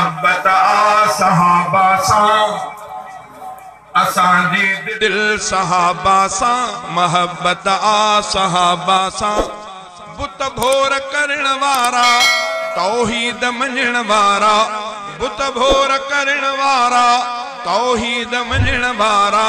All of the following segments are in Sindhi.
محبت آ صحابه سان اسان جي دل صحابه سان محبت آ صحابه سان بت ڀور ڪرڻ وارا توحيد مڃڻ وارا بت ڀور ڪرڻ وارا توحيد مڃڻ وارا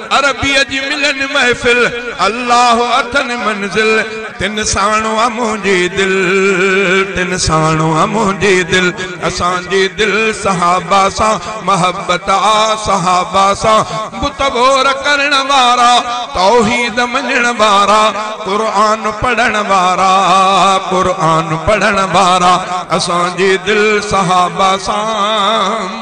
عربيء جي ملن محفل، الله اٿن منزل، تن ساڻ آ منهنجي دل، تن ساڻ آ منهنجي دل، اسان جي دل صحابه سان محبت آ، صحابه سان بت ڀور ڪرڻ وارا، توحيد مڃڻ وارا، قرآن پڙهڻ وارا، قرآن پڙهڻ وارا، اسان جي دل صحابه سان.